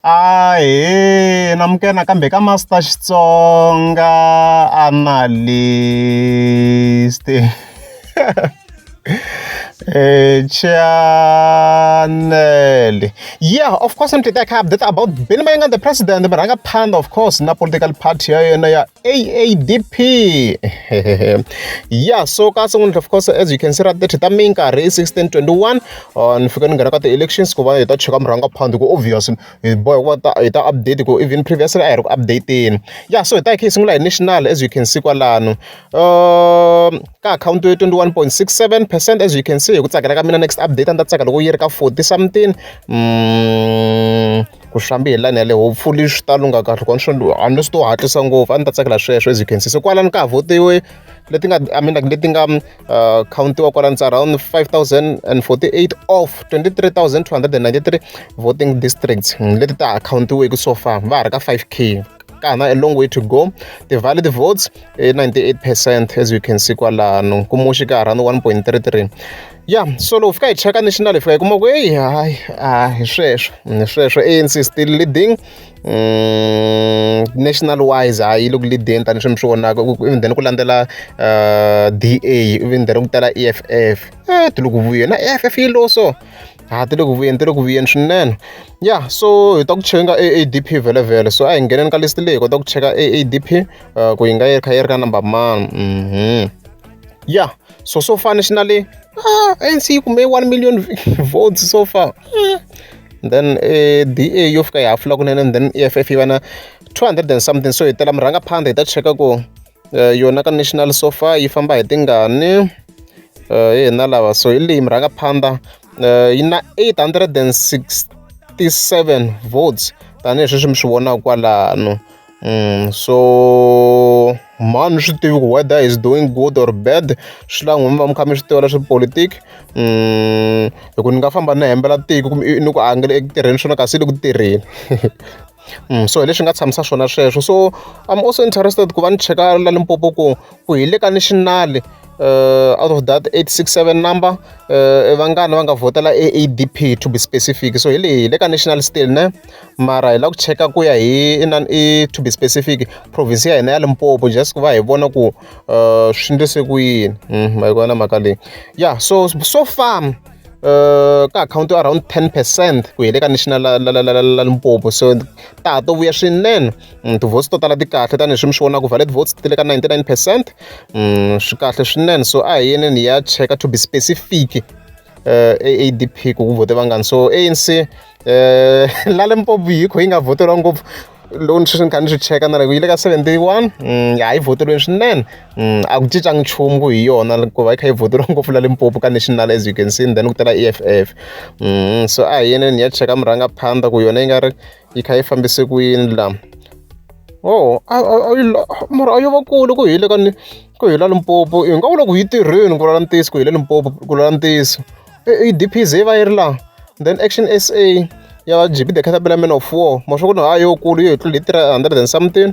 Ahee namukela nakambe ka Master Xitsonga Analyst channel yeah of course ni titeka update about Benny Mayenga the president murhangaphandle of course na political party ya yena ya AADP yeah so kasi n'wini of course as you can see ra 30 ta minkarhi i 1621 ni fika ni nghena ka ti-elections ku va hi ta cheka murhangaphan hi ku obvious hi boheka ku va ta hi ta update hikuva even previously a hi ri ku update-eni ya so hi ta hi kha hi sungula hi national as you can see kwalano ka akhawunti yo twenty one point six seven percent as you can see hi ku tsakela ka mina next update a ni ta tsaka loko yi ri ka forty something mm, ku xambi hi lani yale hopefully swi ta lungha kahle kona swi unless to hatlisa ngopfu a ni ta tsakela sweswo as you can see so kwalano ka ha votiwe leti nga i mean like leti nga uh, countiwa kwala it's around 5048 of 23293 voting districts hmm, leti ta countiweki so far va ha ri ka 5k kana a long way to go the valid votes 98 percent as you can see kwalano kumuxi ka around 1.33 ya so loko fika hi cheka national hi fika hi kuma ku eyi hayi a hi sweswo hi sweswo anc still leading national wise a yi le ku lead-eni tanihi swi mi swi vonaka even then ku landzela D_A even then ku tala E_F_F e ti le ku vuyeni na E_F_F yi low so ha ti le ku vuyeni ti le ku vuyeni swinene ya so hi ta ku cheka e A_D_P vhelemvhele so a hi ngheneni ka list leyi hi kota ku cheka e A_D_P ku yi nga yi kha yi ri ka number mani ya. so so far nationally ah, anc yi kume 1 million votes so far mm. then eh, da yo fika yi hafula kunene and then eff yi va na 200 and something so hi tela murhanga phanda hi ta cheka ku eh, yona ka national so far yi famba hi tingani eh, hi hina lava so hi leyi murhanga phanda eh, yi na 867 votes tanihi sweswi mi swi vonaka kwalano So mhani ni swi tivi ku whether is doing good or bad swi la n'wina mi va mi kha mi swi tiva leswa politiki hi ku ni nga famba ni hembela tiko kumbe ni ku a nga le eku tirheni swona kasi i le ku tirheni so hi leswi nga tshamisa swona sweswo so I'm also interested ku va ni cheka la Limpopo ku ku hi le ka national out of that eight six seven number vangani va nga vhotela A_D_P to be specific so hi leyi hi le ka national still ne. mara hi lava ku cheka ku ya hi inana i to be specific province ya hina ya Limpopo just ku va hi vona ku swi endlise ku yini ma yi vona mhaka leyi ya so so far Eh, ka akhawunti yo around ten percent ku hi le ka national la la la la la limpopo so ta ha to vuya swinene mm, tivotes to tala ti kahle tanihileswi mi swi vonaka valid votes ti le ka ninety nine percent mm, swi kahle swinene so a hi yeneni hi ya cheka to be specific eh, adp ku ku vhote vangani so anc eh, la limpopo yi kho yi nga vhoteriwa ngopfu loko ni sweswi ni kha ni swi cheka na loko yi le ka seventy one mm, ya yi vhoteriweni swinene mm, a ku cincanga nchumu ku hi yona ku va yi kha yi vhoteriwa ngopfu la limpopo ka national as you can see then ku tela e f f mm, so a hi yeneni hi ya cheka murhangaphandza ku yona yi nga ri yi kha yi fambise ku yini la o mara a yo va kule ku hile ka ni ku hila limpopo hi nga vula ku yi tirheni ku lala ntiyiso ku hile limpopo ku lala ntiyiso i dpz yi va yi ri laha then action s a ya gb the catabela man of war ma swa ku ni ha yo kulu yo hi tlula hi three hundred and something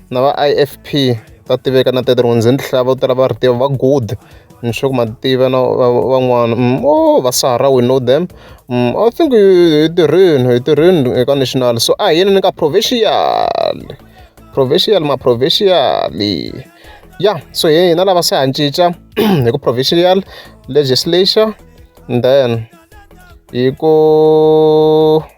na va I_F_P va tiveka na ti vo tala va ri tiva va good ni sure ku ma tiva na va van'wana vo va sara we know them I think hi tirhile hi tirhile eka national so a hi yini ni ka provincial provincial ma provincial ya so hi hina lava se ha cinca hi ku provincial legislature then hi ku.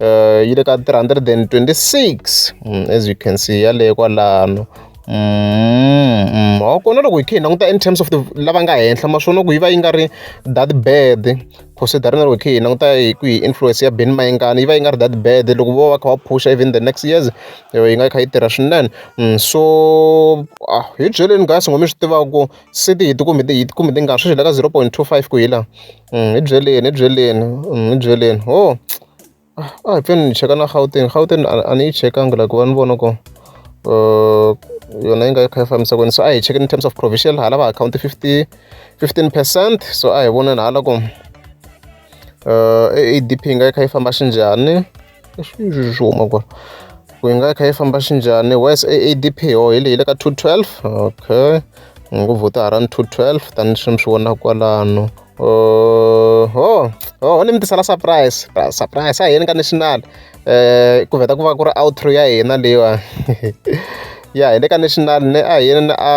uh, yi le ka 326 mm, as you can see yaleyo kwalano mm, kona loko hi kha hi languta in terms of the lava nga henhla maswona ku yi va yi nga ri that bad considering loko hi kha hi languta hi ku hi influence ya ben mayengani yi va yi nga ri that bad loko vo va kha va phusha even the next years yi nga yi kha yi tirha swinene mm, so ah, hi byeleni guys ngo mi swi tivaka ku city hi ti kumbe hi ti kumbe ti nga sweswi le ka zero point two five ku hi laha hi byeleni hi byeleni hi byeleni ho a hi fanele ni cheka na Gauteng Gauteng a ni yi chekanga la ku va ni vona ku yona yi nga yi kha yi fambisa ku yini so a hi chekeni in terms of provisional hala va akhawunti fifty fifteen percent so a hi voneni hala ku ADP yi nga yi kha yi famba xinjhani. leswi swi swi huma kwala ku yi nga yi kha yi famba xinjhani wes aadp ho hi leyi le ka 212 okay ngo vhota ha ra ni 212 tanihi swi mi swi vonaka kwalano uh, ho ho ni mi tisela surprise surprise a hi ni ka national um ku vheta ku va ku ri outro ya hina leyiwa ya hi le ka national ne a hi ni a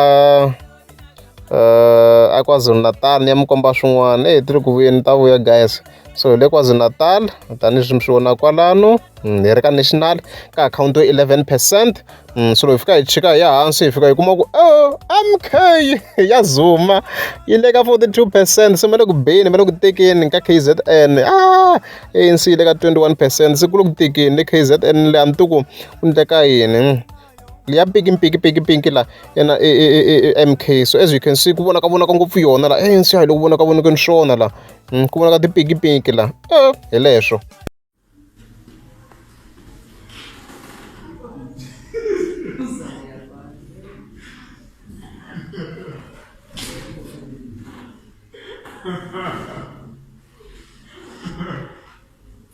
uh, a kwazulu natal ni ya mi komba swin'wana eyi ti ri ku vuyeni ta vuya guys so hi le kwazulu natal tanihileswi mi swi vona kwalano hmm, hi ri ka national ka akhawunti yo 11 percent hmm, so loko hi fika hi chika hi ya hansi hi fika hi kuma ku o oh, mk ya zuma yi le ka 42 percent se ma le ku beni ma le ku tekeni ka k z n a ah, anc yi le ka 21 percent se ku le ku tekeni le k z n le a ni tiku ku ndleka yini ya pinki pinki pinki pinki la ya na e e e e e M_K so as you can see ku vonaka vonaka ngopfu yona la A_N_C a hi le ku vonaka vonakeni swona la ku vonaka tipinki pinki la hi leswo.